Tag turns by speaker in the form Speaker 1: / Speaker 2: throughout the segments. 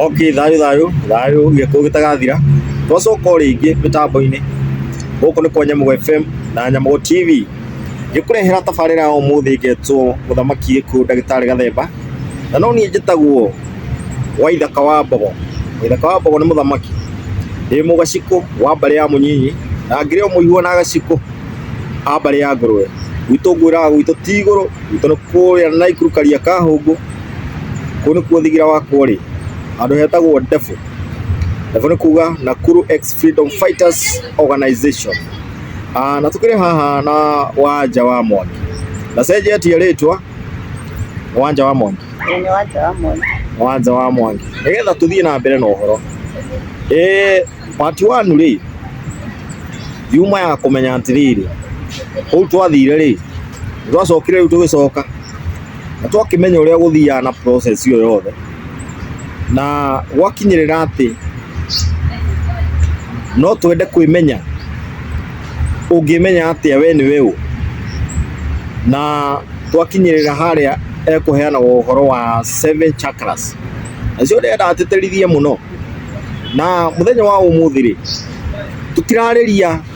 Speaker 1: Okay, thayũ thayũ thayũ gĩkũũ gĩtagathira twacoka o rĩngĩ mĩtambo-inĩ gũkũ nĩ kwa Nyamũgo FM na Nyamũgo TV ngĩkũrehera tabarĩra ya ũmũthĩ ngetwo mũthamaki gĩkũũ ndagĩtarĩ gathemba na no niĩ njĩtagwo waithaka wa mbogo waithaka wa mbogo nĩ mũthamaki ndĩ mũgacikũ wa mbarĩ ya mũnyinyi na ngĩrĩ o mũigua na gacikũ a mbarĩ ya ngũrwe gwitũ ngwĩraga gwitũ ti igũrũ gwitũ nĩ kũrĩa na Naikuru karia ka hũngũ Kũu nĩkuo thigira wakwa ũrĩ, handũ hetagwo Ndebũ. Ndebũ nĩ kuga Nakuru Ex Freedom Fighters Organization. Ah, na tũkĩrĩ haha na wanja wa Mwangi. Na cenjetie rĩtwa wanja wa Mwangi. Nĩ wanja wa mwana. wanja wa mwangi nigetha tuthie na mbere na uhoro eh part 1 ri yuma ya kumenya atiriri kuu twathire ri twacokire riu tugicoka na twakĩmenya ũrĩa gũthiaga na process ĩyo yothe na gwakinyĩrĩra atĩ no twende kwĩmenya ũngĩmenya atĩa we nĩwe ũ na twakinyĩrĩra harĩa ekũheanaga ũhoro wa seven chakras nacio ndĩrenda atĩtĩrithie mũno na mũthenya wa ũmũthĩ rĩ tũtirarĩria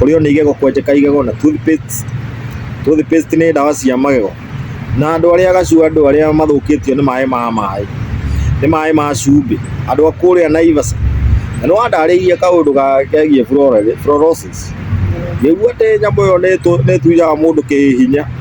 Speaker 1: kũrĩo nĩ igego kwenjeka igego na toothpaste toothpaste nĩ ndawa cia magego na andũ arĩa agacu andũ arĩa mathũkĩtio nĩ maĩ ma maĩ nĩ maĩ ma cumbĩ andũ a kũrĩa Naivasha na nĩ wandarĩirie kaũndũ ga- kegiĩ fluoro- fluorosis ngĩigua atĩ nyamũ ĩyo nĩ ĩtũ- nĩ ĩtuaga mũndũ kĩhihinya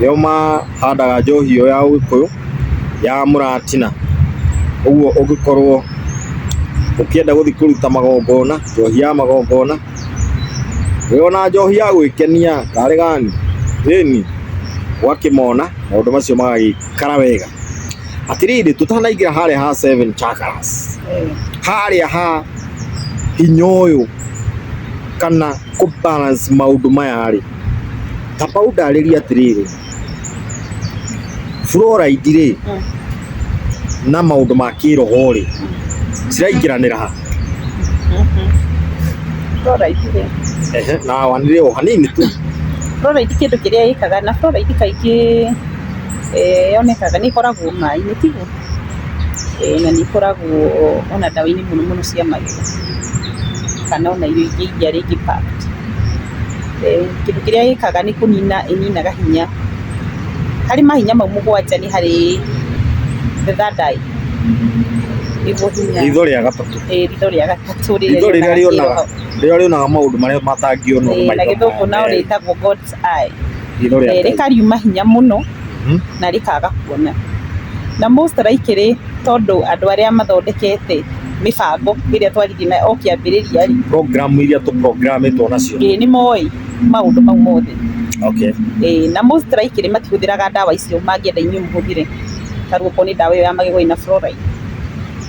Speaker 1: nĩo mahandaga njohi ĩyo ya ũgĩkũyũ ya mũratina. Ũguo ũngĩkorwo ũkĩenda gũthiĩ kũruta magongona, njohi ya magongona, wĩ ona njohi ya gwĩkenia karĩ gani, ĩni, ũgakĩmona maũndũ macio magagĩikara wega. Atĩrĩrĩ, tũtanaingĩra harĩa ha seven chakras, harĩa ha hinya ũyũ kana kũ balance maũndũ maya rĩ. Taba ũndarĩrie atĩrĩrĩ, fluoride rĩ na maũndũ ma kĩroho rĩ ciraingĩranĩra ha? Fluoride rĩ, Ehe, na wanĩrĩre o hanini tu. fluoride kĩndũ kĩrĩa ĩkaga na fluoride kaingĩ eh, yonekaga nĩ ĩkoragwo maĩ-inĩ tiguo? Eh, na nĩ ĩkoragwo ona ndawa-inĩ mũno mũno cia magego kana ona irio ingĩ iria rĩngĩ packed. Kĩndũ kĩrĩa ĩkaga nĩ kũnina ĩninaga hinya, harĩ mahinya mau mũgwanja nĩ harĩ the third eye nĩguo hinya, ritho rĩa gatatũ, ĩĩ ritho rĩa gatatũ ritho rĩrĩa rĩonaga rĩrĩa rĩonaga maũndũ marĩa matangĩonwo nĩ maitho maya merĩ, na gĩthũngũ no rĩtagwo God's eye, rĩkariuma hinya mũno. na rĩkaga kuona. Na mo strike rĩ, tondũ andũ arĩa mathondekete mĩbango ĩrĩa twathire nayo o kĩambĩrĩria rĩ, Program iria tũ program ĩtwo nacio. ĩĩ nĩ moĩ maũndũ mau mothe. Okay. Ĩĩ na mo strike rĩ matihũthĩraga ndawa icio mangĩenda inyuĩ mũhũthĩre. Ta rĩu okorwo nĩ ndawa ĩyo ya magego ĩna fluoride.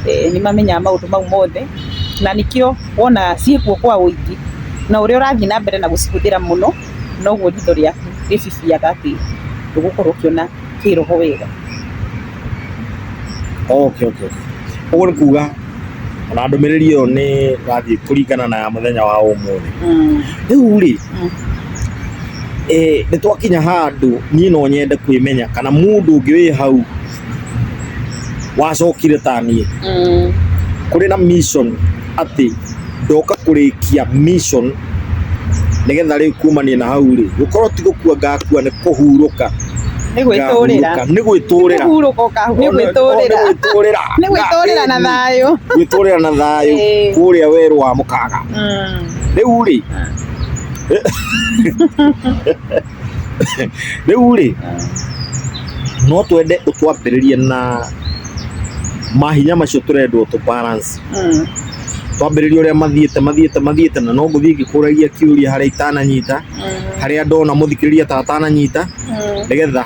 Speaker 1: Ĩĩ nĩ mamenyaga maũndũ mau mothe, na nĩkĩo wona ciĩkuo kwa ũingĩ, na ũrĩa ũrathiĩ na mbere na gũcihũthĩra mũno. noguo ritho rĩaku rĩciciaga atĩ ndũgũkorwo ũkĩona kĩroho wega. Okay, okay. Ũguo nĩ kuga ona ndũmĩrĩri ĩyo nĩ ĩrathiĩ kũringana na ya mũthenya wa ũmũthĩ. Rĩu rĩ, nĩ twakinya handũ niĩ no nyende kwĩmenya kana mũndũ ũngĩ wĩ hau wacokire ta niĩ Mm. kũrĩ na mission atĩ ndoka kũrĩkia mission nĩgetha rĩu kumania na hau rĩ gũkorwo ti gũkua ngakua nĩ kũhurũka nĩ gwĩtũrĩra ngahurũka, nĩ gwĩtũrĩra kũhurũka ũkahu- nĩ gwĩtũrĩra Nĩ gwĩtũrĩra. nĩ gwĩtũrĩra na thayũ gwĩtũrĩra na thayũ Ĩĩ. kũrĩa werũ wa mũkaga Mm. rĩu rĩ Rĩu rĩ, no twende ũtwambĩrĩrie na mahinya macio tũrendwo tũ balance. Mm. Twambĩrĩrie ũrĩa mathiĩte mathiĩte mathiĩte na no ngũthiĩ ngĩkũragia kĩũria harĩa itananyita, Mm. harĩa ndona mũthikĩrĩria ta atananyita, Mm. nĩgetha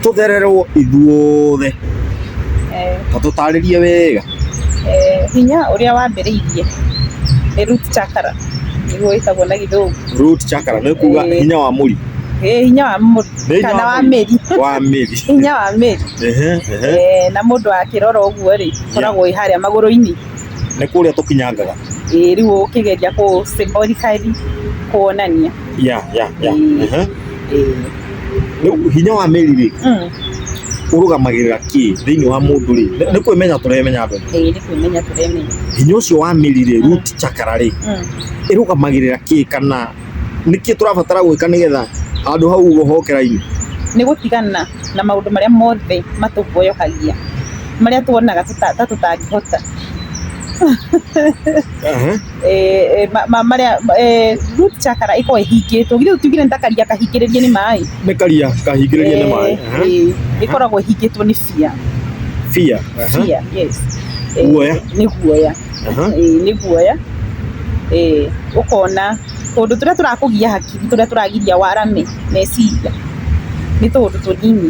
Speaker 1: tũthererwo ithuothe Eh. na tũtarĩrie wega. hinya ũrĩa wambĩrĩirie, ĩĩ root chakra nĩguo ĩtagwo na gĩthũngũ. Root chakra nĩ kuuga hinya wa mũri. Ĩĩ hinya wa mũri kana wa mĩri. Wa mĩri. Hinya wa mĩri. Na mũndũ akĩrora ũguo rĩ, ĩkoragwo ĩĩ harĩa magũrũ-inĩ. Nĩ kũrĩa tũkinyangaga. Ĩĩ rĩu ũkĩgeria kũ symbolically kuonania. ya ya ya Eh. Aha. Eh. Rĩu hinya wa mĩri-rĩ Mm. ũrũgamagĩrĩra kĩ thĩinĩ wa mũndũ-rĩ Nĩ- nĩ kwĩmenya tũremenya andũ Eh, nĩ kwĩmenya tũremenya hinya ũcio wa mĩri-rĩ root chakra-rĩ Mm. ĩrũgamagĩrĩra kĩ kana nĩkĩ tũrabatara gwĩka nĩgetha handũ hau ũguo hoke raini nĩ gũtigana na maũndũ marĩa mothe matũboyokagia marĩa tuonaga tũta- ta tũtangĩhota Aha. eh, ma- ma- marĩa eh, root chakra ĩkorwo ĩhingĩtwo githĩ tugire nĩ ta karia kahingĩrĩrie nĩ maĩ nĩ karia kahingĩrĩrie nĩ maĩ Aha. Eh, ĩkoragwo ĩhingĩtwo nĩ bia fear Aha. bia yes Eh, Guoya. nĩ guoya Aha. Eh, nĩ guoya Eh, ũkona tũndũ tũrĩa tũrakũgia hakiri tũrĩa tũragiria warame meciria nĩ tũũndũ tũnini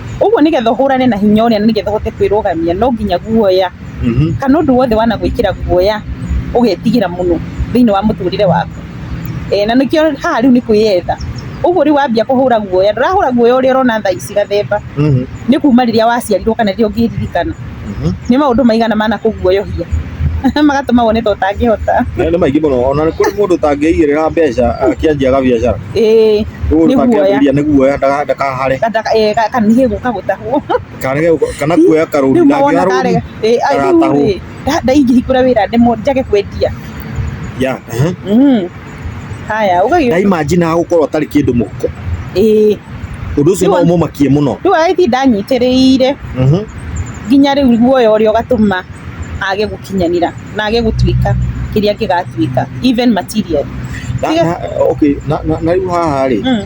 Speaker 1: Ũguo nĩgetha ũhũrane na hinya ũrĩa na nĩgetha ũhote kwĩrũgamia no nginya guoya kana ũndũ wothe wanagwĩkĩra guoya ũgetigĩra mũno thĩinĩ wa mũtũrĩre waku. Ee na nĩkĩo haha rĩu nĩ kwĩyetha. Ũguo rĩu wambia kũhũra guoya, ndũrahũra guoya ũrĩa ũrona thaa ici Gathemba, nĩ kuma rĩrĩa waciarirwo kana rĩrĩa ũngĩririkana. Nĩ maũndũ maigana manakũguoyohia magatũma wone ta ũtangĩhota? Nĩ maingĩ mũno, ona nĩ kũrĩ mũndũ ũtangĩigĩrĩra mbeca akĩanjia gabiacara. Ĩĩ, nĩ guoya. Nĩ guoya ndakahare. Kana nĩgetha kagũtahwo. Kana kuoya karũni ndangĩoya rũni ndagatahwo. Ndaingĩhingũra wĩra njage kwendia. Yeah. haya ugagiũka na imagine hagũkorwo atarĩ kĩndũ mũhuko ĩĩ ũndũ ũcio no Rĩu- ũmũmakie mũno rĩu agĩthi ndanyitĩrĩire Mhm. nginya rĩu guoya ũrĩa ũgatũma age gũkinyanĩra na age gũtuĩka kĩrĩa kĩgatuĩka even material na, Tiga- na, okay, na, na, na rĩu haha rĩ Mm.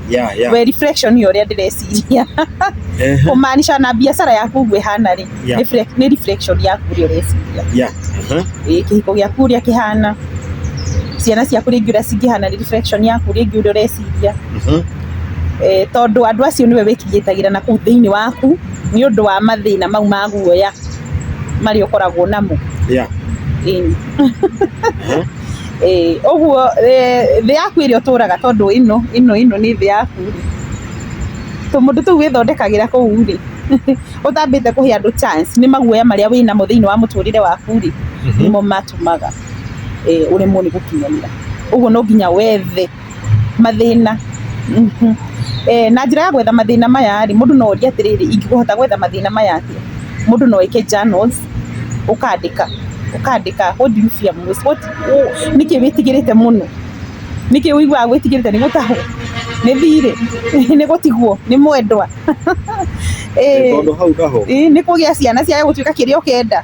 Speaker 1: yeah, yeah. we reflection ya ũrĩa ndĩreciria Ehe. kumaanisha na biacara yaku ũguo ĩhana rĩ Yeah. nĩ fre- nĩ reflection yaku ũrĩa ũreciria Yeah, aha. Ĩ, kĩhiko gĩaku ũrĩa kĩhana ciana ciaku rĩngĩ ũrĩa cingĩhana nĩ reflection yaku rĩngĩ ũrĩa ũreciria Mhm. Eh, tondũ andũ acio nĩwe wĩkirĩtagĩra na kũu thĩinĩ waku nĩ ũndũ wa mathĩna mau ma guoya marĩa ũkoragwo namo Yeah. Ĩni. Ĩĩ ũguo thĩ yaku ĩrĩa ũtũraga tondũ ĩno ĩno ĩno nĩ thĩ yaku rĩ, tũmũndũ tũu wĩthondekagĩra kũu rĩ, ũtambĩte kũhe andũ chance nĩ maguoya marĩa wĩnamo thĩinĩ wa mũtũrĩre waku rĩ, nĩmo matũmaga ũremwo nĩ gũkinyanĩra. Ũguo no nginya wethe. Mathĩna, na njĩra ya gwetha mathĩna maya rĩ, mũndũ no orie atĩrĩrĩ, ingĩhota gwetha mathĩna maya atĩa? Mũndũ no eke journals ũkandĩka, ũkandĩka what do you fear most? Nĩkĩ wĩtigĩrĩte mũno? Nĩkĩ wĩiguaga wĩtigĩrĩte nĩ gũtahwo, nĩ thirĩ, nĩ gũtigwo, nĩ mwendwa, ĩĩ nĩ kũgĩa ciana ciage gũtuĩka kĩrĩa ũkenda?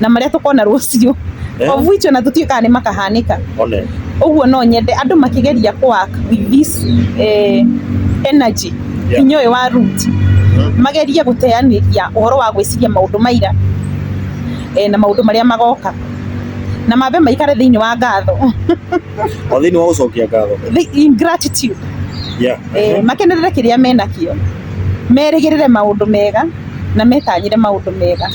Speaker 1: na marĩa tũkona rũciũ Eh. of which ona tũtiũkaga nĩ makahanĩka one ũguo no nyende andũ makĩgeria kũwak with this eh, energy Yeah. hinya ũyũ wa root magerie gũteanĩria ũhoro wa gwĩciria maũndũ maira eh, na maũndũ marĩa magoka na mambe maikare thĩinĩ wa ngatho o thĩinĩ wa gũcokia ngatho Thi- in gratitude yeah eh, makenerere kĩrĩa menakĩo merĩgĩrĩre maũndũ mega na metanyĩre maũndũ mega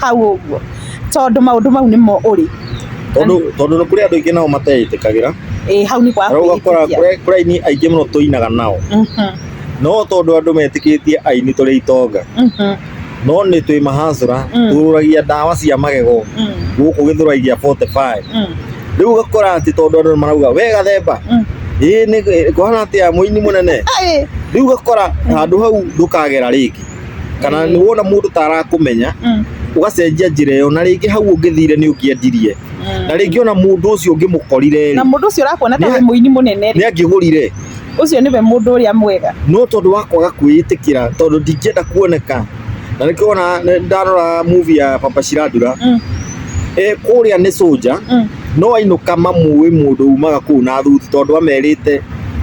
Speaker 1: hau ũguo tondũ maũndũ mau nĩmo ũrĩ tondũ tondũ nĩ kũrĩ andũ aingĩ nao mateĩtĩkagĩra ĩĩ hau nĩ kwa na ũgakora kwĩĩtĩkia. kũrĩ kũrĩ aini aingĩ mũno tũinaga nao Mhm, no tondũ andũ metĩkĩtie aini tũrĩ itonga mhm, no nĩ twĩ mahancũra Mm. tũrũragia ndawa cia magego mm, gũkũ gĩthũrai gĩa 45 mm, rĩu ũgakora atĩ tondũ andũ marauga we gathemba mm. ĩĩ nĩ kũhana atĩa mũini mũnene Ĩĩ, rĩu ũgakora handũ hau ndũkagera rĩngĩ kana nĩ wona mũndũ ta arakũmenya Mm. ũgacenjia njĩra ĩyo na rĩngĩ hau ũngĩthire nĩ ũngĩendirie na rĩngĩ ona mũndũ ũcio ũngĩmũkorire na rĩ mũndũ ũcio ũrakuona ta Nĩ- wĩ mũini mũnene rĩ nĩ angĩgũrire ũcio nĩwe mũndũ ũrĩa mwega no tondũ wa kwaga kwĩĩtĩkĩra tondũ ndingĩenda kuoneka na nĩkĩo wona nĩ- ndarora movie ya papa cirandura Mm. e kũrĩa nĩ soja Mm. no ainũka mamũĩ mũndũ umaga kũu na thuti tondũ amerite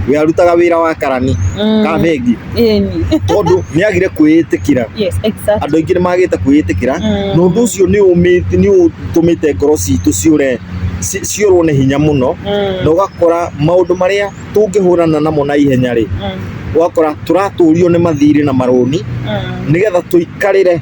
Speaker 1: we arutaga wira wa karani mm. kana bengi tondu ni agire kwiitikira yes exactly andu aingi ni magite kwiitikira mm. no ndu ucio ni umiti ni utumite ngoro citu ciure ciurwo ni hinya muno mm. na ugakora maundu maria tungihurana namo na ihenya ri mm. ugakora turaturio ni mathiri na maruni mm. nigetha tuikarire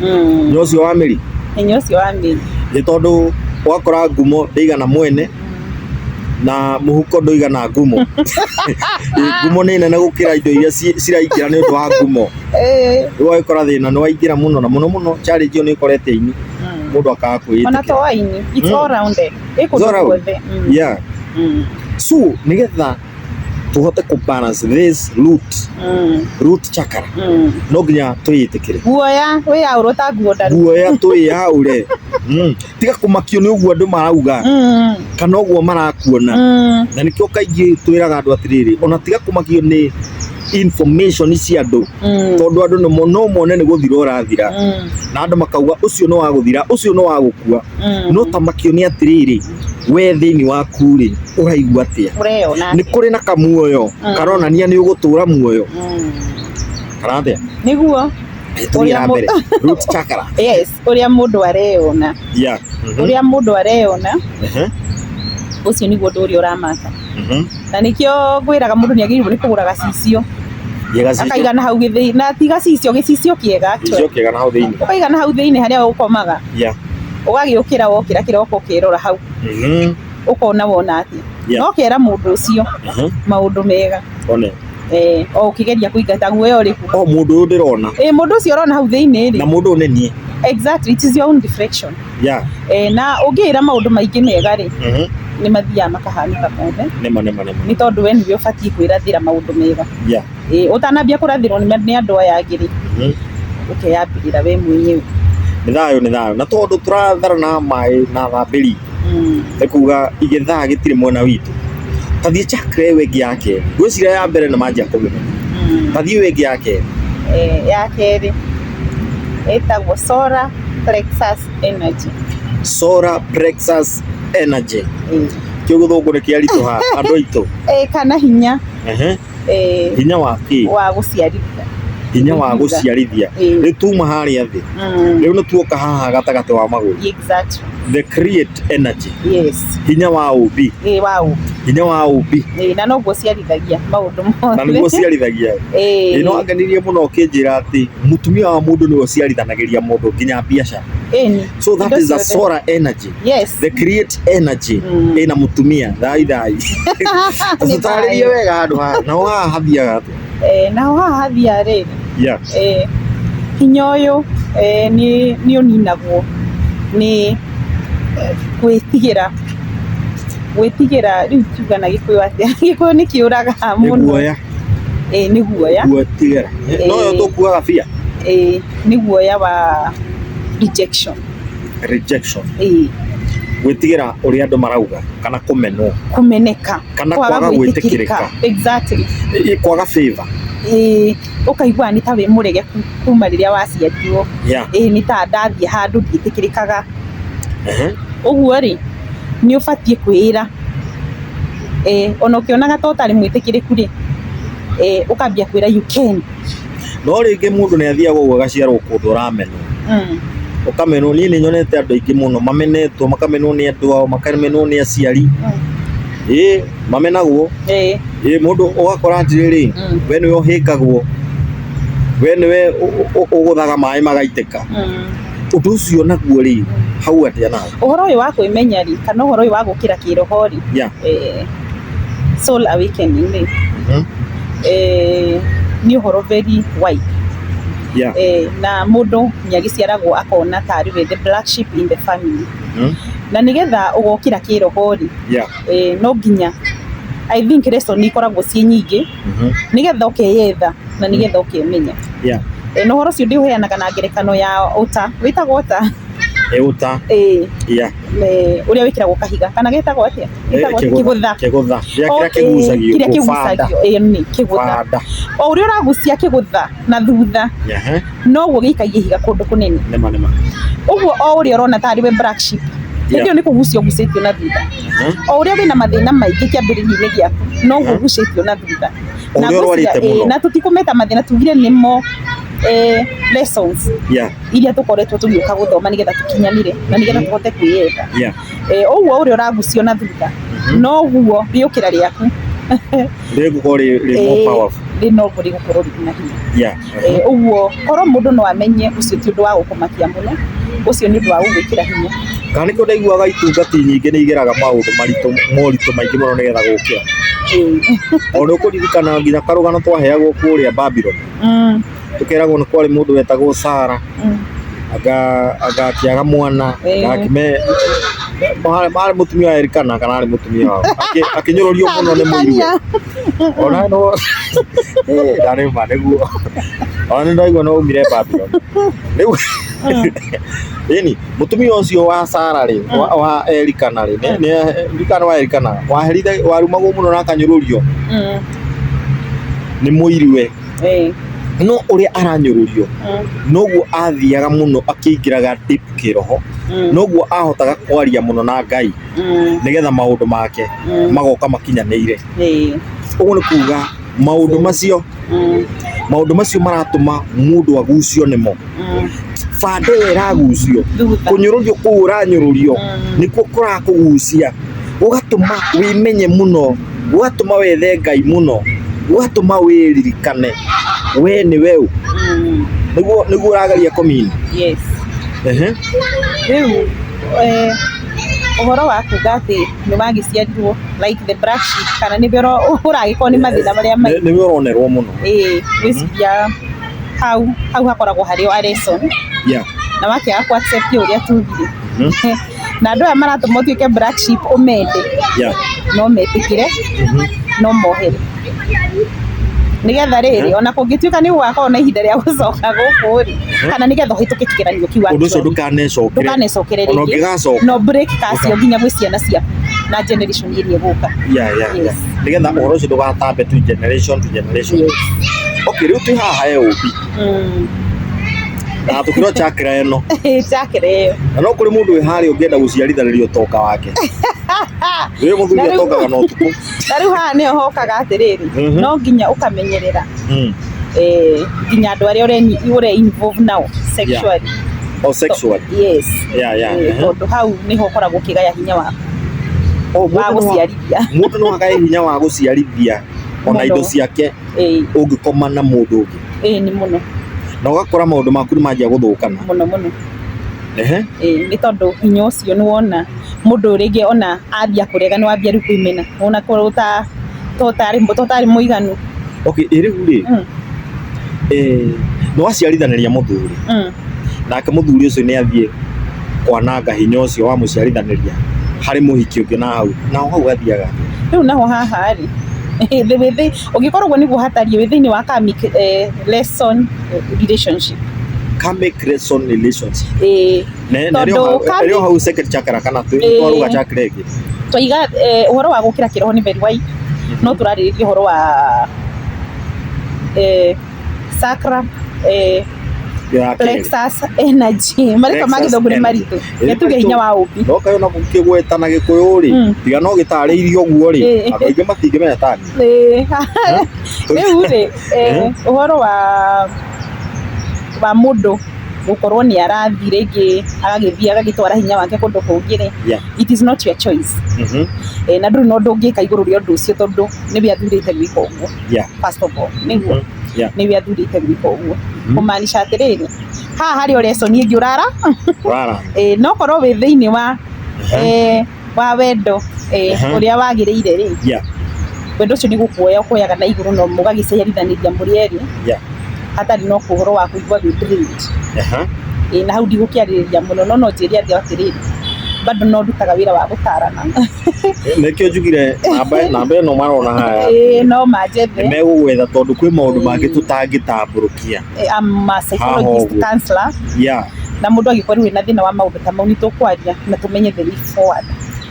Speaker 1: Mm. nyoyo ũcio wa mĩri Hinya ũcio wa mĩri. nĩ tondũ wakora ngumo ndĩigana mwene na mũhuko ndũigana ngumo Ĩ, ngumo nĩ nene gũkĩra indo iria ci- ciraingĩra nĩ ũndũ wa ngumo Eh. rĩu wagĩkora thĩna nĩ waingĩra mũno na mũno mũno challenge ĩyo nĩ ĩkorete ini Mm. mũndũ akaga Ona to kwĩyĩtĩkĩra waini. It's Mm. all rounded. Ĩkũndũ It's all round. guothe. Mm. yeah Mm. so nĩgetha tuhote ku balance this root mm. root chakra mm. no nginya tuyitikire guoya wi ya urota guoda guoya twi ya ure mm. tiga kumakio ni uguo andu marauga mm. kana uguo marakuona mm. na nikio kaingi twiraga andu atiriri ona tiga kumakio ni information cia andu mm. tondu andu no no mone ni guthira urathira mm. na andu makauga ucio no waguthira ucio no wagukua mm. no tamakio ni atiriri we thĩinĩ waku rĩ ũraigua atĩa ũreyona nĩ kũrĩ na kamuoyo Mm. karonania nĩ ũgũtũra muoyo Mm. karathĩa nĩguo tũthiĩ na Ũrĩa mbere root chakra yes ũrĩa mũndũ areyona yeah Mhm. ũrĩa mũndũ areyona Ehe. ũcio nĩguo ũndũ ũrĩa ũramaka Mhm. na nĩkĩo ngwĩraga mũndũ nĩ agĩrĩirwo nĩ kũgũra gacicio Yega cicio. akaiga na hau gĩthĩi na ti gacicio gĩcicio kĩega Gĩcicio kĩega na hau thĩinĩ. ũkaiga na hau thĩinĩ harĩa ũkomaga Yeah. ũgagĩũkĩra wokĩra kĩroko ũkerora hau Mhm. ũkona wona atĩ Yeah. no kera mũndũ ũcio Aha. maũndũ mega One. eh, o ũkĩgeria kũingata guoya ũrĩkũ o mũndũ ũyũ ndĩrona eh, mũndũ ũcio ũrona hau thĩinĩ na rĩ mũndũ ũyũ nĩ niĩ exactly it is your own reflection ya eh, na ũngĩĩra maũndũ maingĩ mega rĩ Mhm. nĩ mathiaga makahanĩka mothe nĩma nĩma nĩma nĩ tondũ we nĩwe ũbatiĩ kwĩrathĩra maũndũ mega ya Ĩĩ, ũtanambia kũrathĩrwo nĩ nĩ andũ aya angĩ rĩ, Mhm. ũkeyambĩrĩra we mwenyewe. nĩ thayũ nĩ thayũ na tondũ tũratharana maĩ na thambĩri Mm. nĩ kuga igĩthaa gĩtirĩ mwena witũ tathiĩ chakra ĩyo ĩngĩ ya kerĩ ngwĩciria ya mbere nĩ manjia kũmĩmenya Mm. tathiĩ ĩyo ĩngĩ ya kerĩ Eh, ya kerĩ ĩtagwo solar plexus energy. solar plexus energy Ĩĩ. kĩu gĩthũngũ nĩ kĩaritũha andũ aitũ Eh, kana hinya Ehe. eh, hinya wa kĩ wa gũciarithia hinya wa Gũciara. gũciarithia Eh. rĩu tuma harĩa thĩ Mm, rĩu nĩ tuoka haha gatagatĩ wa magũrũ exactly the create energy yes hinya wa ũmbi eh, wa ũmbi hinya wa ũmbi eh, na noguo ciarithagia maũndũ na mothe nĩguo ciarithagia eh, ĩno angenirie mũno ũkĩnjĩra atĩ mũtumia wa mũndũ nĩwe ũciarithanagĩria mũndũ nginya biacara eh, ni- so that indo is a ciothe. solar energy Yes. they create energy mm. ina mutumia thai thai sasa tarĩrie wega handũ haha na waha hathiaga atĩa eh na waha hathia rĩ yeah eh hinya ũyũ eh ni ni ũninagwo ni gwĩtigĩra gwĩtigĩra rĩu tuga na gĩkũyũ atĩa gĩkũyũ nĩ kĩũraga mũno nĩ guoya eh nĩ guoya gwĩtigĩra no yo tũkuaga bia eh nĩ guoya wa rejection rejection Ĩĩ, gwĩtigĩra ũrĩa andũ marauga kana kũmenwo kũmeneka Kana kwaga kwaga gwĩtĩkĩrĩka. gwĩtĩkĩrĩka. Exactly. Ĩ- kwaga favor Ĩĩ, ũkaiguaga nĩ ta wĩ mũregeku kuma rĩrĩa waciarirwo yeah. ĩĩ nĩ ta ndathiĩ handũ ndiĩtĩkĩrĩkaga Ehe. ũguo rĩ nĩ ũbatiĩ kwĩĩra eh, ona ũkĩonaga ta ũtarĩ mwĩtĩkĩrĩku rĩ eh, ũkambia kwĩra you can no rĩngĩ mũndũ nĩ athiaga ũguo agaciarwo kũndũ ũramenwo Mm. ũkamenwo niĩ nĩ nyonete andũ aingĩ mũno mamenetwo makamenwo nĩ andũ ao makamenwo nĩ aciari Mm. ĩĩ mamenagwo Eh. ĩĩ mũndũ ũgakora atĩrĩrĩ Mm. we nĩwe ũhĩngagwo we nĩwe ũ- ũ- ũ- ũgũthaga maĩ magaitĩka Mm. ũndũ ũcio naguo rĩ hau atĩa nawe ũhoro ũyũ wa kwĩmenya rĩ kana ũhoro ũyũ wa gũkĩra kĩroho rĩ Yeah. eh, solar awakening rĩ Mhm. eh, nĩ ũhoro very wide Yeah. eh, na mũndũ nĩ agĩciaragwo akona tarĩ we the black sheep in the family Mhm. na nĩgetha ũgokĩra kĩroho rĩ Yeah. eh, no nginya I think lesson nĩ ikoragwo ciĩ nyingĩ Mhm. nĩgetha ũkeyetha na nĩgetha ũkemenya Yeah. Eh, na ũhoro ũcio ndĩũheanaga na ngerekano ya ũta wĩtagwo ũta Eh, uta. eh, Yeah. eh, ũrĩa wĩkĩragwo kahiga kana gĩtagwo atĩa gĩtagwo atĩa? kĩgũtha kĩgũtha gĩa kĩrĩa Okay, kĩgucagio kĩrĩa gũkũ, fanda, kĩgucagio ĩyo nĩ kĩgũtha fanda o ũrĩa ũragucia kĩgũtha na thutha Ehe, noguo gĩikagia ihiga kũndũ kũnene nĩma nĩma ũguo o ũrĩa ũrona tarĩ we black sheep Yeah. hĩndĩ ĩyo nĩ kũgucia ũgucĩtio na thutha Ehe. o ũrĩa wĩna mathĩna maingĩ kĩambĩrĩria-inĩ gĩaku noguo Aha. ũgucĩtio na thutha O Na ũrĩa ngwĩciria, ũrwarĩte mũno. eh, na tũtikũmeta mathĩna tugire nĩmo eh, lessons Yeah. iria tũkoretwo tũgĩũka gũthoma nĩgetha tũkinyanire na nĩgetha tũhote kwĩyenda Yeah. Eh, ũguo ũrĩa ũragucio na thutha noguo rĩũkĩra rĩaku Rĩgũkorwo rĩ rĩ more Eh, powerful. rĩnoguo rĩgũkorwo rĩrĩ na hinya Yeah. Eh, ũguo korwo mũndũ no amenye ũcio ti ũndũ wa gũkũmakia mũno ũcio nĩ ũndũ wa gũgwĩkĩra hinya Kana nĩkĩo ndaiguaga itungati nyingĩ nĩ igeraga maũndũ maritũ moritũ maingĩ mũno nĩgetha gũkĩra. Eh, O nĩ ũkũririkana nginya karũgano twaheagwo kũrĩa Babylon. mm, tũkeragwo nĩ kwarĩ mũndũ wetagwo Sara anga anga akĩaga mwana Eh. na akĩme marĩ marĩ mũtumia wa Elikana kana arĩ mũtumia wao Akĩ- akĩnyũrũrio mũno nĩ mũirũ ona no Eh, ndarĩ ma nĩguo ona nĩ ndaigua no umire Babylon rĩu ĩni mũtumia ũcio wa Sara rĩ wa, wa Elikana rĩ nĩ- nĩ Elikana wa Elikana waherire warumagwo mũno na akanyũrũrio nĩ mũirue Eh, no ũrĩa aranyũrũrio mm, noguo athiaga mũno akĩingĩraga deep kĩroho mm, noguo ahotaga kwaria mũno na ngai mm, nĩgetha maũndũ make mm, magoka makinyanĩire eh, ũguo nĩ kuga maũndũ macio mm, maũndũ macio maratũma mũndũ agucio nĩmo bande ĩyo ĩragucio kũnyũrũrio kũu ũranyũrũrio nĩkuo kũrakũgucia gũgatũma wĩmenye mũno gũgatũma wethe ngai mũno gũgatũma wĩririkane we nĩ we ũ nĩguo nĩguo ũrageria kũmina yes Ehe. rĩu eh, ũhoro wa kuga atĩ nĩ wagĩciarirwo like the black sheep kana nĩ ũragĩkorwo nĩ mathĩna marĩa Nĩ- maingĩ nĩwe ũronerwo mũno ĩĩ gwĩciria hau hau hakoragwo harĩ o lesson Yeah. na wakĩaga kũ accept ũrĩa tugire Mhm. na andũ aya maratũma ũtuĩke black sheep ũmende Yeah. no metĩkĩre Mhm. no mohere nĩgetha rĩrĩ ona kũngĩtuĩka nĩ gũgakorwo na ihinda rĩa gũcoka gũkũ rĩ kana nĩgetha ũhĩtũke kĩgeranio kĩu Ũndũ ũcio ndũkanecokere. ndũkanecokere Ona rĩngĩ ũngĩgacoka. no break kacio nginya gwĩ ciana ciaku na generation ĩrĩa ĩgũka yeah, yeah, Yes. yeah. nĩgetha ũhoro ũcio ndũgatambe tu generation to generation Yes. okay rĩu twĩ haha he ũmbi Mm. na tũkĩrwo chakra ĩno njakĩra ĩyo na no kũrĩ mũndũ wĩ harĩa ũngĩenda gũciarithanĩria ũtonga wake wĩ mũthuri Na rĩu- atongaga na ũtukũ na rĩu haha nĩho hokaga atĩrĩrĩ Mhm. no nginya ũkamenyerera Mm. eh, nginya andũ arĩa ũre- ũre involve nao sexually o sexual yes yeah, yeah. Eh, Mhm. tondũ hau nĩho ũkoragwo ũkĩgaya hinya waku Oh, wa mũndũ no- gũciarithia mũndũ no akae hinya wa gũciarithia ona Mũno. indo ciake Ĩĩ, ũngĩkoma na mũndũ ũngĩ ĩĩ, nĩ mũno na ũgakora maũndũ maku nĩ manjia gũthũkana mũno mũno Ehe. Ĩĩ, nĩ tondũ hinya ũcio nĩ wona mũndũ rĩngĩ ona ambia kũrega nĩ wambia rĩu kwĩmena ona korwo ta to ũtarĩ to ũtarĩ mũiganu okay ĩ rĩu rĩ Mm. eh, nĩ waciarithanĩria mũthuri Mm. nake mũthuri ũcio nĩ athiĩ kwananga hinya ũcio wa mũciarithanĩria harĩ mũhiki ũngĩ na hau naho hau gathiaga rĩu naho haha rĩ thĩ wĩ thĩ ũngĩkorwo ũguo nĩguo hatariĩ wĩ thĩinĩ wa karmic eh, lesson eh, relationship karmic lesson relationship eh, Ne- na Tondũ rĩo hau- karmic- rĩo hau second chakra kana twĩ Eh. twaruga chakra ĩngĩ twaiga eh, ũhoro wa gũkĩra kĩroho nĩ very wide no tũrarĩrĩria ũhoro wa eh, sacra eh, ya kĩrĩ. plexus energy marĩtwa ma Plexus gĩthũngũ nĩ energy. maritũ Ĩĩ, nĩ tuge hinya wa ũmbi no kayo na gũkĩgweta na gĩkũyũ rĩ Mm. tiga no gĩtarĩirie ũguo rĩ Ĩĩ. andũ aingĩ matingĩmenya tani Ĩĩ. rĩu rĩ eh, ũhoro wa wa mũndũ gũkorwo nĩ arathiĩ rĩngĩ agagĩthiĩ agagĩtwara hinya wake kũndũ kũngĩ rĩ Yeah. it is not your choice Mhm. Eh, na ndũrĩ na ũndũ ũngĩka igũrũ rĩa ũndũ ũcio tondũ nĩwe athurĩte gwĩka ũguo Yeah. first of all nĩguo Mhm. Yeah. nĩwe athurĩte gwĩka ũguo Mhm. kũmaanisha atĩrĩrĩ haha harĩ o lesson ĩngĩ ũrara Rara. eh, no korwo wĩ thĩinĩ wa Aha. eh, wa wendo eh, Aha. ũrĩa wagĩrĩire rĩ Yeah. wendo ũcio nĩ gũkuoya ũkuoyaga na igũrũ no mũgagĩciarithanĩria mũrĩ erĩ Yeah. hatarĩ no ũhoro wa kũigua wĩ drained. Aha. Eh, na hau ndigũkĩarĩrĩria mũno no no njĩre andũ atĩrĩrĩ bado no ndutaga wĩra wa gũtarana nĩkĩo njugire namba namba ĩno marona haya Ĩĩ, no manjethe nĩmegũgwetha tondũ kwĩ maũndũ mangĩ tũtangĩtambũrũkia Eh, I'm a psychologist Haha ũguo. counselor ya na mũndũ angĩkorwo rĩu wĩna thĩna wa maũndũ ta mau nĩ tũkwaria na tũmenye the way forward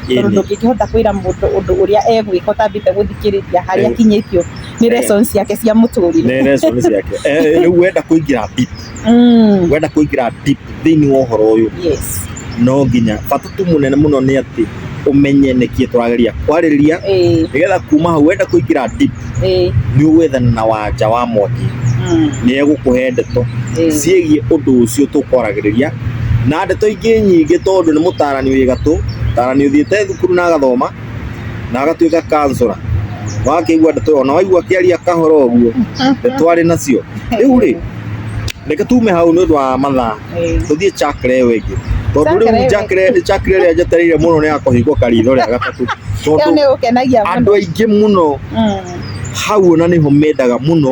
Speaker 1: tondũ ĩni ndũngĩkĩhota kwĩra mũndũ ũndũ ũrĩa egwĩka ũtambĩte gũthikĩrĩria harĩa Eh. akinyĩtio nĩ Eh. lessons ciake cia mũtũrĩre nĩ reason ciake Eh, rĩu wenda kũingĩra deep mm. wenda kuingira deep thiini wa horo uyu yes no nginya bata tu munene muno ni ati umenye niki turageria kwaririria eh. nigetha kuma hau wenda kuingira deep eh. ni ugwethana na wanja wa mwaki mm. ni egukuhe ndeto eh. ciegie undu ucio tukwaragiriria na ndeto ingĩ nyingĩ tondũ nĩ mũtarani wĩ gatũ mũtarani ũthiĩte thukuru na agathoma na agatuĩka kansũra wakĩigua ndeto ona waigua akĩaria kahoro ũguo ndeto arĩ nacio rĩu rĩ reke tume hau nĩ ũndũ wa mathaa tũthiĩ chakre ĩyo ĩngĩ tondũ rĩu chakre chakre ĩrĩa njetereire mũno nĩ ya kũhingwo karitho rĩa gatatũ ĩyo tondũ nĩ gũkenagia andũ mũno aingĩ mũno Mm. hau ona nĩho mendaga mũno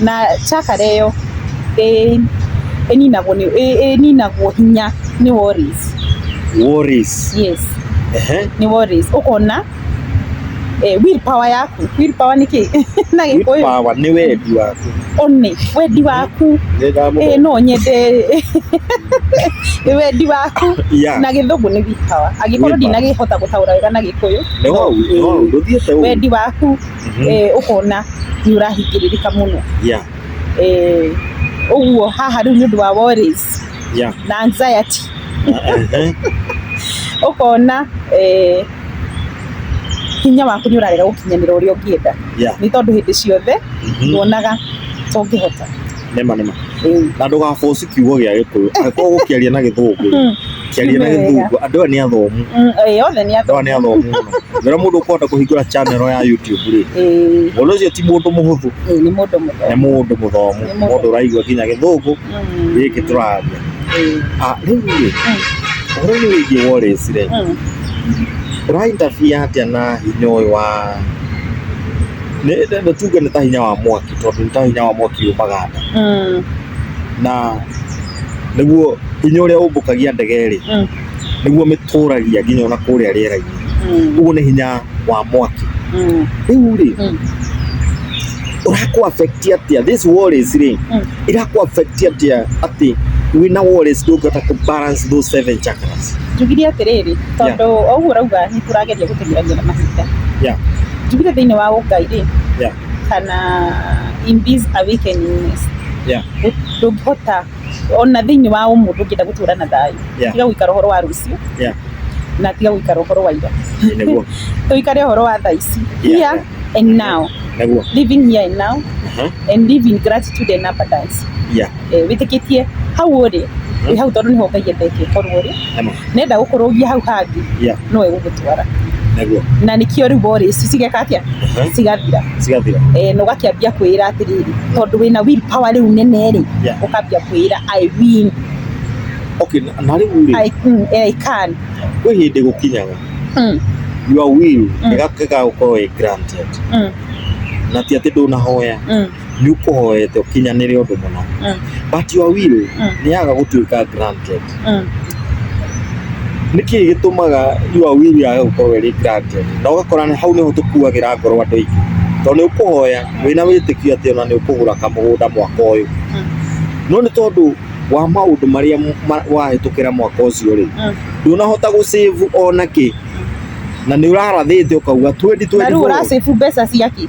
Speaker 1: na chakar ĩyo ĩninagwo hinya nĩ worries. Worries. Yes. Nĩ worries. Ũkona will power yaku, will power nĩ kĩĩ na gĩkũyũ? Will power nĩ wendi waku. Ũnĩ, wendi waku. Ĩĩ no nyende wendi waku na gĩthũngũ nĩ will power. Angĩkorwo ndinakĩhota gũtaũra wega na gĩkũyũ. Wendi waku. ũkona nĩ ũrahingĩrĩrĩka mũno. Ũguo haha rĩu nĩ ũndũ wa worries na anxiety ũkona hinya waku nĩ ũrarega gũkinyanĩra ũrĩa ũngĩenda nĩ tondũ hĩndĩ ciothe wonaga ta ũngĩhota. nema nema na ndũga force kiugo gĩa gĩkũyũ angĩkorwo gũkĩaria na gĩthũngũ Mm. kĩaria na Nĩ wega. gĩthũngũ andũ aya nĩ athomu Mm, ĩĩ, othe nĩ andũ aya nĩ athomu mũno rĩrĩa mũndũ ũkũhota kũhingũra channel ya YouTube rĩ Ĩĩ, mũndũ ũcio ti mũndũ mũhũthũ ĩĩ, nĩ mũndũ nĩ mũthaka mũndũ mũthomu Nĩ mũndũ. mũndũ ũraigua nginya gĩthũngũ Mm, gĩkĩ tũraria ĩĩ, Ah, rĩu rĩ ũhoro nĩ wĩgiĩ Wallace rĩ mm. ũraintabia atĩa na hinya ũyũ wa nĩ nĩ tuge nĩ ta hinya wa mwaki tondũ nĩ ta hinya wa mwaki umaga nda Mm. na nĩguo hinya ũrĩa ũmbũkagia ndege rĩ Mm. nĩguo mĩtũragia nginya ona kũrĩa rĩera-inĩ Mm. ũguo nĩ hinya wa mwaki Mm. rĩu rĩ Mm. ũrakũ affect atĩa this worries rĩ Mm. irakũ affect atĩa atĩ wĩna worries ndũngĩhota kũ balance those seven chakras njugire atĩrĩrĩ tondũ o ũguo ũrauga nĩ tũrageria gũtenyerania na mahinda Yeah. njugire thĩinĩ wa ũngai rĩ yeah. kana in this awakenings yeah. ndũngĩhota ona thĩinĩ wa ũmũ ndũngĩenda gũtũra na thayũ yeah. tiga gũikara ũhoro wa rũciũ yeah. na tiga gũikara ũhoro wa ira tũikare ũhoro wa thaa ici here yeah. and now living here and now uh -huh. and living gratitude and abundance yeah. eh, wĩtĩkĩtie hau ũrĩ wĩ hau tondũ nĩho ngai endete ũkorwo ũrĩ Ema. nenda gũkũrũgia hau hangĩ Yeah. no egũgũtwara Nĩguo. na nĩkĩo rĩu borĩ ici cigeka atĩa Mhm. cigathira Cigathira. eh, na ũgakĩambia kwĩra atĩrĩrĩ tondũ wĩna will power rĩu nene rĩ Yeah. ũkambia kwĩra i win Okay, na- na rĩu rĩ, i, mm, eh, I can kwĩ hĩndĩ gũkinyaga mm, your will Mm. ĩgakĩga gũkorwo ĩ granted mm, na ti atĩ ndũnahoya mm. nĩ ũkũhoete ũkinyanĩre ũndũ mũna Mm. but your will Mm. nĩ yaga gũtuĩka granted Mm. nĩ kĩĩ gĩtũmaga your will yaga gũkorwo ĩrĩ granted na ũgakora nĩ- hau nĩho tũkuagĩra ngoro andũ aingĩ tondũ nĩ ũkũhoya wĩna wĩtĩkio atĩ ona nĩ ũkũgũra kamũgũnda mwaka ũyũ Mm. no nĩ tondũ wa maũndũ marĩa m- ma- wahĩtũkĩra mwaka ũcio rĩ Mm. ndũnahota gũcĩvu ona kĩ na nĩ ũrarathĩte ũkauga 2024 na rĩu ũracibu mbeca ciaki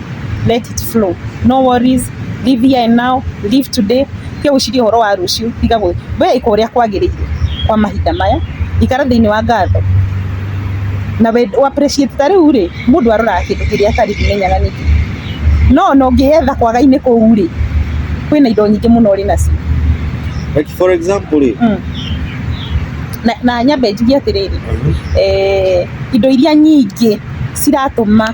Speaker 1: let it flow no worries live here and now live today tiga gwĩciria ũhoro wa rũciũ tiga gwĩ we ĩka ũrĩa kwagĩrĩire kwa mahinda maya ikara thĩinĩ wa ngatho na we u appreciate ta rĩu rĩ mũndũ aroraga kĩndũ kĩrĩa atarĩ kĩmenyaga nĩ kĩ no ona ũngĩyetha kwaga-inĩ kũu rĩ kwĩna indo nyingĩ mũno ũrĩ nacio Like for example, rĩ, Mm. na, na nyambe njuge atĩrĩrĩ eh, indo iria nyingĩ ciratũma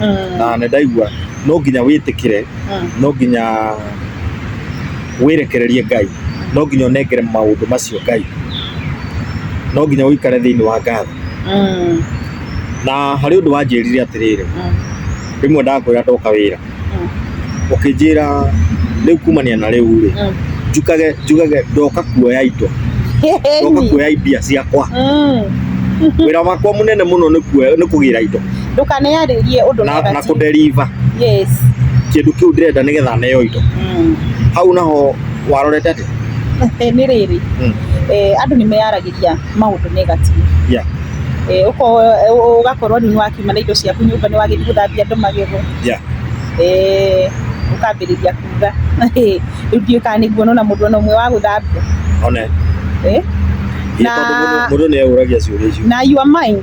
Speaker 1: Mm. na nĩ ndaigua no nginya wĩtĩkĩre Mm. no nginya wĩrekererie ngai no nginya ũnengere maũndũ macio ngai no nginya ũikare thĩinĩ wa ngatho Mm. na harĩ ũndũ wanjĩrire atĩrĩrĩ Mm. rĩmwe ndakwĩra ndoka wĩra Mm. ũkĩnjĩra rĩu kumania na rĩu rĩ Mm. njukage njugage ndoka kuoya indo ndoka kuoya imbia ciakwa Mm. wĩra wakwa mũnene mũno nĩ kuoya- nĩ kũgĩra indo ndũkanearĩrie ũndũ na, na negative. kũnderiva yes kĩndũ kĩu ndĩrenda nĩgetha neo indo mm. hau naho warorete atĩ Eh, nĩ rĩrĩ Mm. eh, andũ nĩ meyaragĩria maũndũ negative yeah, Eh, ũko- eh, ũ- ũgakorwo nĩ wakiuma na indo ciaku nyũmba nĩ wagĩthi gũthambia andũ magego yeah. Eh, ũkambĩrĩria kuga rĩu ndiũĩ kana nĩ nguona ona mũndũ ona ũmwe wa gũthambia one Eh, Hihi Na- tondũ mũndũ- mũndũ nĩ eũragia ciũria icio na your mind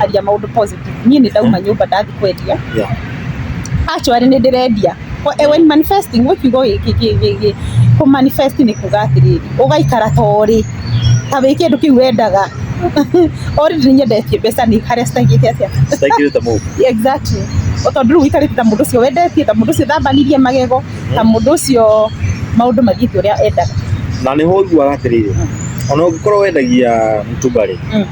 Speaker 1: aria maundu positive nie ni ndauma nyumba ndathi kwendia Yeah. actually ni ndirendia Ko- eh, when manifesting what you go ku manifest ni kuga atiriri ugaikara ta uri ta wi kindu kiu wendaga ori ni nyendetie mbeca ni haria citangite atia Sitaki ta move. exactly tondu riu wikarite ta mundu ucio wendetie ta mundu ucio thambanirie magego na mũndũ ũcio maũndũ magĩte ũrĩa endaga na nĩ ho ũiguaga atĩrĩrĩ ona ũngĩkorwo wendagia mtumbarĩ Mm.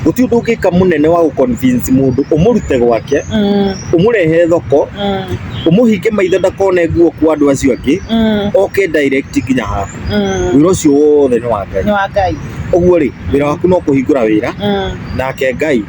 Speaker 1: gũtirĩ ũndũ ũngĩka mũnene wa gũconvince mũndũ ũmũrute gwake Mm, ũmũrehe thoko mm, ũmũhinge maitho ndakone nguo kwa andũ acio angĩ mm, oke direct nginya haha mm. wĩra ũcio wothe nĩ wa ngai nĩ wa ngai ũguo rĩ wĩra waku no kũhingũra wĩra Mm, nake ngai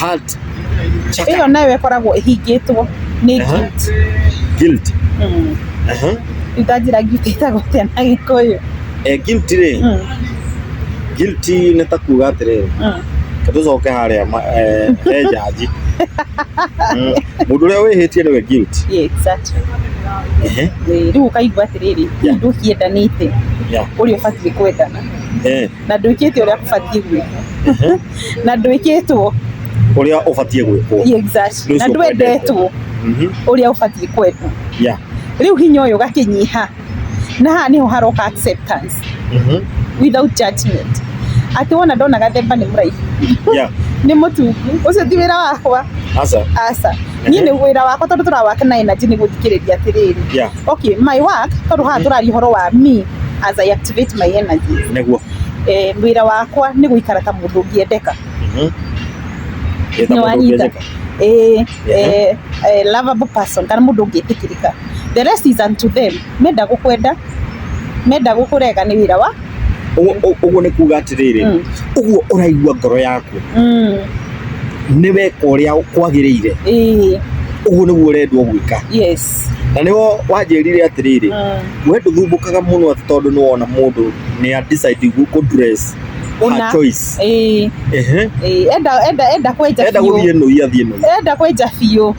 Speaker 1: heart check ĩyo nayo ĩkoragwo ĩhingĩtwo nĩ Aha. guilt. guilt Mm. aha Rĩu ndanjĩra guilt ĩtagwo atĩa na gĩkũyũ eh, guilt rĩ Mm, guilt nĩ ta kuga atĩrĩrĩ mm. tũcoke harĩa ma- eh, he njanji Mm, mũndũ ũrĩa wĩhĩtie nĩwe guilt Yeah, exactly. Ehe, Eh, rĩu ũkaigua atĩrĩrĩ Yeah. ndũkĩendanĩte yeah, ũrĩa ũbatiĩ kwendana eh. na ndwĩkĩte ũrĩa kũbatiĩ gwĩkwo na ndwĩkĩtwo Ũrĩa ũbatiĩ gwĩkwo. exactly. Ndũcio na ndwendetwo Mhm. ũrĩa ũbatiĩ kwendwo Yeah. rĩu hinya ũyũ ũgakĩnyiha na haha nĩho haroka acceptance Mhm. without judgment atĩ wona ndona gathemba nĩ mũraihu Yeah. nĩ mũtungu ũcio ti wĩra wakwa Aca. aca niĩ nĩ wĩra wakwa tondũ tũrawake na energy nĩ gũthikĩrĩria atĩrĩrĩ Yeah. Okay, my work tondũ haha tũraria ũhoro wa me as I activate my energy. Nĩguo. Eh, wĩra wakwa nĩ gũikara ta mũndũ ũngĩendeka. Mhm. Ĩ ta Nĩ mũndũ wanyita. ũngĩendeka. Eh, eh, eh, lovable person kana mũndũ ũngĩtĩkĩrĩka. The rest is unto them. Menda gũkwenda, menda gũkũrega nĩ wĩra wa Ũguo nĩ kuga atĩrĩrĩ, mm. ũguo ũraigua ngoro yaku mm. nĩ weka ũrĩa kwagĩrĩire, ũguo nĩguo ũrendwo gwĩka. Na nĩho wanjĩrire atĩrĩrĩ, mm. we ndũthumbũkaga mũno atĩ tondũ nĩ wona mũndũ nĩ a decide kũ dress una choice eh eh enda enda enda kwenja enda guthie no iathiĩ no enda kwenja biũ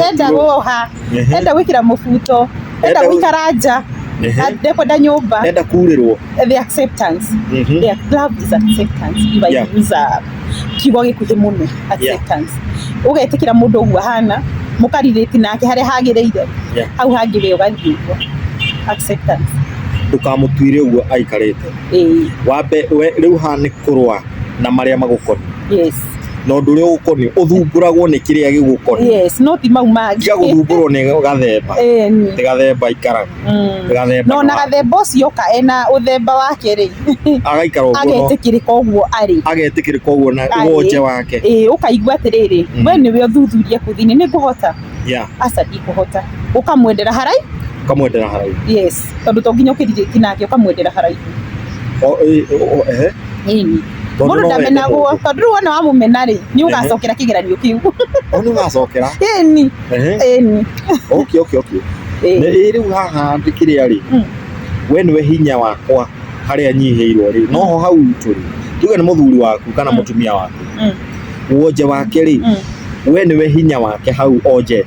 Speaker 1: enda goha enda gwikira mubuto Ndenda Ndenda- gũikara nja. Ehe. Na Ndekwenda nyũmba. Ndenda kurĩrwo. The acceptance. Mhm. Their love is acceptance. If I Yeah. use a kiugo gĩkuhĩ mũno. Acceptance. Ũgetĩkĩra mũndũ ũguo ahana, mũkarirĩti nake harĩa hagĩrĩire. Yeah. Hau hangĩ we ũgathiĩ ũguo. Acceptance. Ndũkamũtuire ũguo aikarĩte. Ĩĩ. Wambe we rĩu haha nĩ kũrũa na marĩa magũkoniĩ yes na ũndũ ũrĩa ũgũkoniĩ ũthumbũragwo nĩ kĩrĩa gĩgũkoniĩ yes no ti mau mangĩ tiga gũthumbũrwo nĩ gathemba Eh, nĩ. nĩ gathemba ikaraga Mm. gathemba no na nĩ wa- gathemba ũcio oka ena ũthemba wake rĩ agaikara ũguo no- agetĩkĩrĩka ũguo arĩ agetĩkĩrĩka ũguo na Arĩ. ũgonje wake ĩĩ ũkaigua atĩrĩrĩ Mm. we nĩwe ũthuthuria kũ thĩinĩ nĩ ngũhota ya aca ndikũhota ũkamwendera haraihu kamwendera haraihu yes tondũ to nginya ũkĩrirĩki nake ũkamwendera haraihu O- ĩ- o- o- ehe. Ĩni. Tondũ Mũndũ no wende ndamenagwo. mũndũ. Tondũ rĩu wona wamũmena rĩ, nĩ ũgacokera kĩgeranio kĩu. Hau nĩ ũgacokera Ĩni. Ehe. Ĩni. okay okay okay Ĩni. Nĩ- rĩu haha ndĩ kĩrĩa rĩ Mm. we nĩwe hinya wakwa harĩa nyihĩirwo rĩ noho hau tũrĩ tuge nĩ mũthuri waku kana Mm. mũtumia waku Mm. wonje wake rĩ Mm. we nĩwe hinya wake hau onjete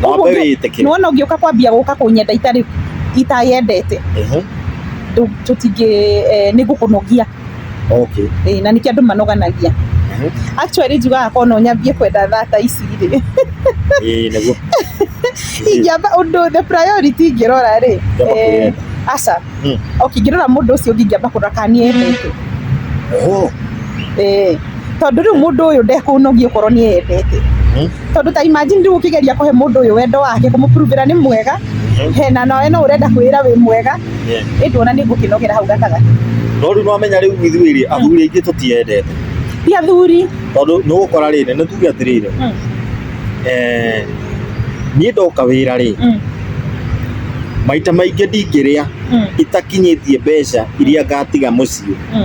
Speaker 1: Ng'ombe Ũguo ũngĩ- wĩtĩkĩra. nĩwona ũngĩũka kwambia gũka kũnyenda itarĩ itayendete Ehe. ndũ- tũtingĩ eh, nĩ ngũkũnogia Okay. Eh, na nĩkĩo andũ manoganagia Ehe. actually njugaga korwo no nyambie kwenda thata ici rĩ Ĩĩ, nĩguo. ingĩamba ũndũ the priority ingĩrora rĩ Ingĩamba eh, kwĩyenda. aca Hmm. okay ingĩrora mũndũ ũcio ũngĩ ingĩamba kũrora kana nĩendete Oh. Eh, tondũ rĩu mũndũ ũyũ ndekũnogia okorwo nĩ endete tondũ ta imagine rĩu ũkĩgeria kũhe mũndũ ũyũ wendo wake kũmũpuruvĩra nĩ mwega hena nawe no ũrenda kwĩra wĩ mwega ĩndĩ ona nĩ ngũkĩnogera hau gatagatĩ no rĩu nĩwamenya rĩu ithuĩ rĩ athuri aingĩ tũtiendete ti athuri tondũ nĩ ũgũkora rĩrĩ nĩ tuge atĩrĩrĩ Mm. eh, niĩ ndoka wĩra rĩ Mm, maita maingĩ ndingĩrĩa mm, itakinyĩtie mbeca iria ngatiga mũciĩ mm.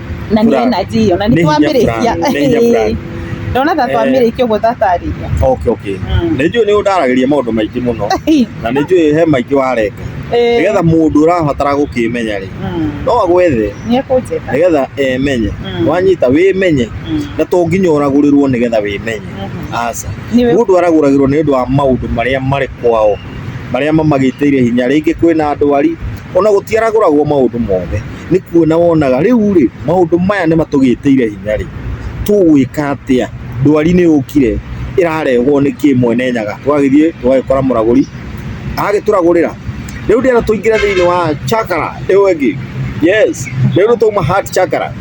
Speaker 1: na nĩ Brand. energy iyo na Nĩ nĩ hinya twamĩrĩkia brand, nĩ hinya brand. ndona ta Eh. twamĩrĩkia ũguo tatarĩria okay okay Mm. nĩ njũĩ nĩ ũndaragĩria maũndũ maingĩ mũno na nĩ njũĩ he maingĩ warenga nĩgetha mũndũ ũrabatara gũkĩmenya rĩ no agwethe nĩ ekũnjĩka nĩgetha emenye Mm. wanyita wĩmenye Mm. na to nginya ũragũrĩrwo nĩgetha wĩmenye Mhm. aca Nĩ we- mũndũ aragũragĩrwo nĩ ũndũ wa maũndũ marĩa marĩ kwao marĩa mamagĩtĩire hinya rĩngĩ kwĩna ndwari ona gũtiaragũragwo maũndũ mothe nĩ kuona wonaga rĩu rĩ maũndũ maya nĩ matũgĩtĩire hinya rĩ tũgwĩka atĩa ndwari nĩ yũkire ĩrarehwo nĩ kĩ mwene nyaga twagĩthiĩ tũgagĩkora mũragũri agagĩtũragũrĩra rĩu ndĩrenda tũingĩre thĩinĩ wa chakara ĩyo ĩngĩ yes rĩu nĩ twauma heart chakara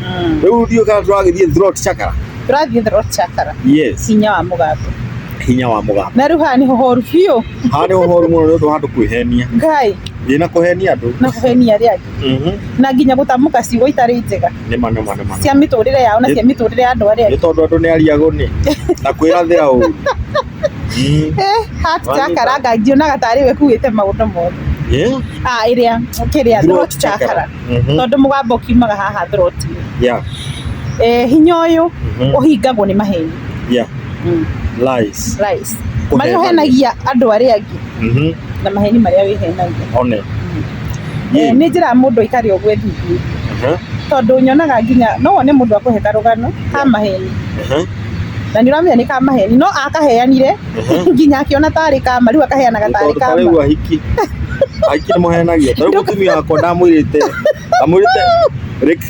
Speaker 1: rĩu ndiũ kana tũragĩthiĩ throat chakara Tũrathiĩ throat chakra. yes Hinya wa mũgambo. hinya wa mũgambo Na rĩu haha nĩho horu biũ. haha nĩ ũhoru mũno nĩ ũndũ wa andũ kwĩhenia Ngai, wĩna kũhenia andũ na kũhenia arĩa angĩ. Mhm. na nginya gũtamũka ciugo itarĩ njega nĩma nĩma nĩma nĩma. cia mĩtũrĩre yao na cia mĩtũrĩre ya andũ arĩa nĩ angĩ tondũ andũ nĩ ariagũ nĩ na kwĩrathĩra ũru Mm. Eh, hat Wanyita. jakaranga ngionaga tarĩ we kuĩte maũndũ mothe Eh? ah ĩrĩa kĩrĩa Throat throat chakra. chakra Mhm. tondũ mũgambo ũkiumaga haha throat Yeah. eh hinya ũyũ Mhm. ũhingagwo nĩ maheni Yeah. Lies. Lies. Kũhenia. marĩa ũhenagia andũ arĩa angĩ Mhm. na maheni marĩa wĩhenagia one Eh, nĩ njĩra mũndũ aikare ũguo thithi Mhm. tondũ nyonaga nginya no wone mũndũ akũhe karũgano ka maheni Mhm. na nĩ ũramenya nĩ ka maheni no akaheanire Mhm. nginya akĩona tarĩ kama rĩu akaheanaga tarĩ tondũ ta kama rĩu ahiki ahiki nĩ mũhenagia ta rĩu mũtumia wakwa ndamwĩrĩte ndamwĩrĩte rĩk-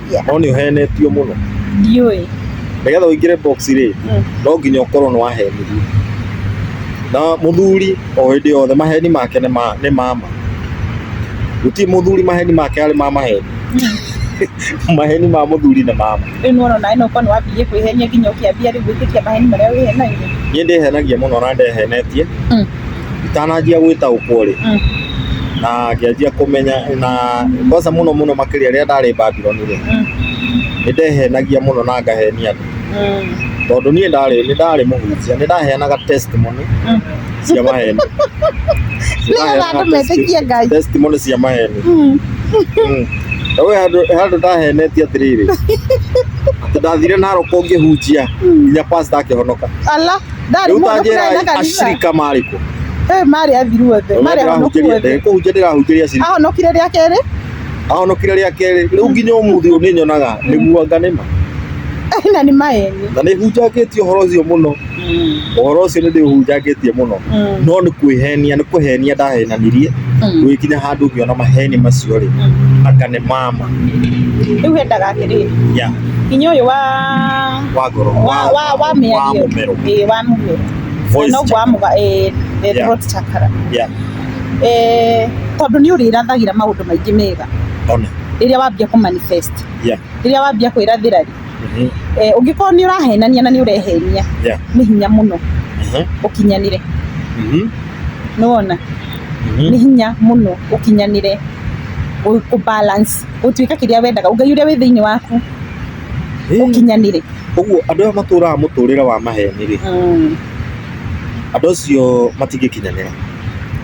Speaker 1: Yeah. no nĩ ũhenetio mũno ndiũĩ nĩgetha ũingĩre box rĩ Mm. no nginya ũkorwo nĩ wahenirio na mũthuri o hĩndĩ yothe maheni make nĩ ma- nĩ mama gũtirĩ mũthuri maheni make arĩ ma maheni maheni ma mũthuri nĩ mama rĩu nĩwona naĩ no ũkorwo nĩ wambĩrĩrie kwĩhenia nginya ũkĩambia rĩu gwĩtĩkia maheni marĩa wĩhenagia niĩ ndĩhenagia mũno na ndehenetie Mm. itananjia gwĩtaũkwo rĩ Mm. na ngĩanjia kũmenya na kwanza mũno mũno makĩria rĩrĩa ndarĩ Babyloni rĩ Mm. nĩ ndehenagia mũno na ngahenia andũ Mm. tondũ niĩ ndarĩ nĩ ndarĩ mũhunjia nĩ ndaheanaga testimony Mm. cia maheni Nĩgetha andũ metĩkie Ngai. testimony cia maheni Mm. Mm. Na we handũ handũ ndahenetie atĩrĩrĩ atĩ ndathire naroko ngĩhunjia nginya pastor akĩhonoka Ala. ndarĩ mũndũ kũrĩa na kanitha ashirika marĩ kũ eh marĩ athiru othe marĩ ahonokia othe kũhunjia ndĩrahunjia ashirika ahonokire rĩa kerĩ ahonokire rĩa kerĩ rĩu nginya ũmũthĩ ũyũ nĩ nyonaga nĩ muanga nĩ ma eh, na nĩ maeni na nĩ hunjangĩtie ũhoro ũcio mũno mm. ũhoro ũcio nĩ ndĩhunjangĩtie mũno mm. no nĩ kwĩhenia nĩ kwĩhenia ndahenanirie mm. gũgĩkinya handũ ngĩona maheni macio rĩ aka nĩ mama rĩu hendaga atĩrĩrĩ inya ũyũ wa wa ngoro wa wa wa wa mĩario mũmero ĩĩ wa mũmero Voice no chakra. gwamũga ĩĩ the Yeah. throat chakra Yeah. eh tondũ nĩ ũrĩrathagĩra maũndũ maingĩ mega ona rĩrĩa wambia kũ manifest Yeah. rĩrĩa wambia kwĩrathĩra rĩ Mhm. eh, ũngĩkorwo nĩ ũrahenania na nĩ ũrehenia Yeah. nĩ hinya mũno Mhm. ũkinyanĩre Mhm. nĩ wona nĩ Mhm. hinya mũno ũkinyanĩre kũ balance gũtuĩka kĩrĩa wendaga ngai ũrĩa wĩ thĩinĩ waku ũkinyanire. Ũguo andũ aya matũraga mũtũrĩre wa maheni rĩ, Mm. andũ acio matingĩkinyanĩra.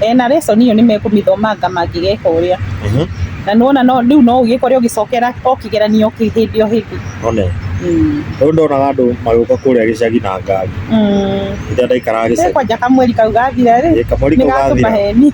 Speaker 1: E, na lesson iyo nĩ mekũmĩthomanga mangĩgeka ũrĩa Mhm. na nona no rĩu no ũgĩkore ũgĩcokera o kĩgeranio kĩ hĩndĩ o hĩndĩ One. Mm. Rĩu ndonaga andũ magĩũka kũrĩa gĩcagi na ngari. Mm. Rĩrĩa ndaikaraga Rĩu gĩcagi. kwanja kamweri kau gathira rĩ Ĩ, kamweri kau nĩgatũma gathira. heni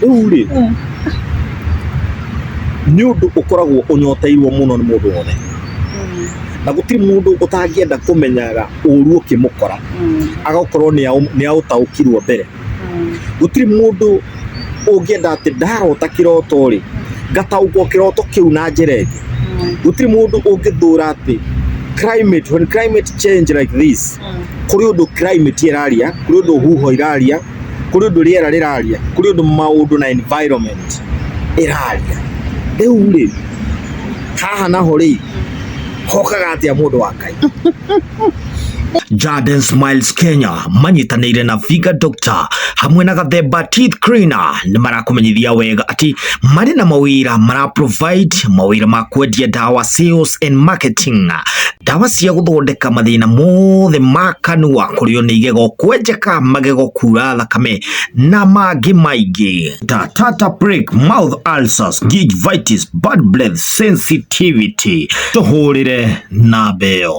Speaker 1: rĩu rĩ nĩ ũndũ ũkoragwo ũnyoteirwo mũno nĩ mũndũ wothe na gũtirĩ mũndũ ũtangĩenda kũmenyaga ũru ũkĩmũkora agakorwo nĩ aũtaũkirwo mbere gũtirĩ mũndũ ũngĩenda atĩ ndarota kĩroto rĩ ngataũkwo kĩroto kĩu na njĩra ĩngĩ gũtirĩ mũndũ ũngĩthũra atĩ climate when climate change like this kũrĩ ũndũ climate ĩraria kũrĩ ũndũ huho ĩraria kuri undu riera riraria kuri undu maundu na environment iraria riu ri haha naho ri hokaga atia mundu wa ngai Jaden Smiles Kenya manyitanĩire na Viga Doctor hamwe na Gathemba Teeth Cleaner nĩ marakũmenyithia wega atĩ marĩ na mawĩra mara provide mawĩra ma kwendia dawa sales and marketing ndawa cia gũthondeka mathĩna mothe ma kanua kũrĩo nĩ igego kwenjeka magego kura thakame na mangĩ maingĩ ta tata break mouth ulcers gingivitis bad breath sensitivity tũhũrĩre na mbeo